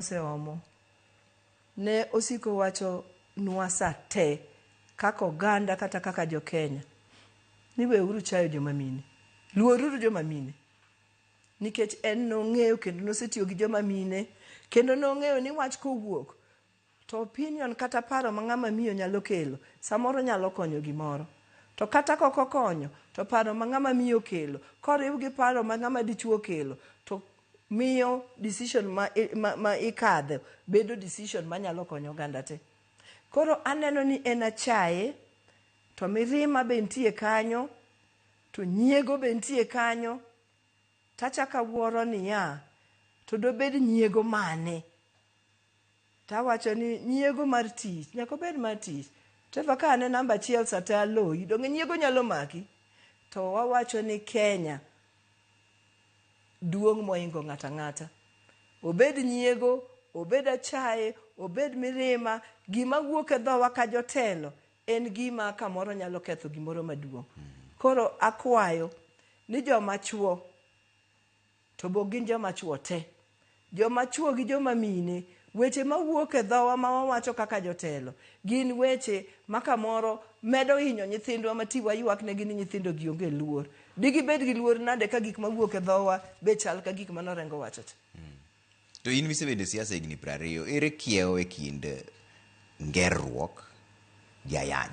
oseomo. Ne osiko wacho nwa sa te kaka oganda kata kaka jo Kenya ni we uru chayo joma mine. Luor uru joma mine. Nikech en nong'eyo kendo nosetiyo gi joma mine kendo nong'eyo ni wach kowuok to opinion kata paro ma ng'ama miyo nyalo kelo samoro nyalo konyo gimoro. To kata kok okonyo to paro ma ng'ama miyo okelo koriw gi paro ma ng'ama dichuo okelo to miyo decision ma, ma, ma ikadhe bedo decision manyalo konyo oganda te. Koro aneno ni en achaye, to mirima be nitie kanyo, to nyiego be nitie kanyo, tachako awuoro niya, to dobed nyiego mane? To awacho ni nyiego mar tich nyaka obed mar tich. Trevor ka an e namba achiel sa te aloyi, donge nyiego nyalo maki? To wawacho ni Kenya duong' moingo ng'ato ang'ata. Obed nyiego, obed achaye, obed mirima, gima wuok e dhowa ka jotelo en gima kamoro nyalo ketho gimoro maduong'. Koro akwayo ni joma chuo, To be ok gin joma chwo te? Joma chwo gi joma mine, weche ma wuok e dhowa ma wawacho kaka jotelo, gin weche ma kamoro medo hinyo nyithindwa ma ti waywaknegi ni nyithindogi onge luor. Digibed gi luor nade ka gik ma wuok e dhowa be chal ka gik ma norengo wachocha? To in misebedo e siasa higni prariyo, ere kiewo e kind ngerruok gi ayany?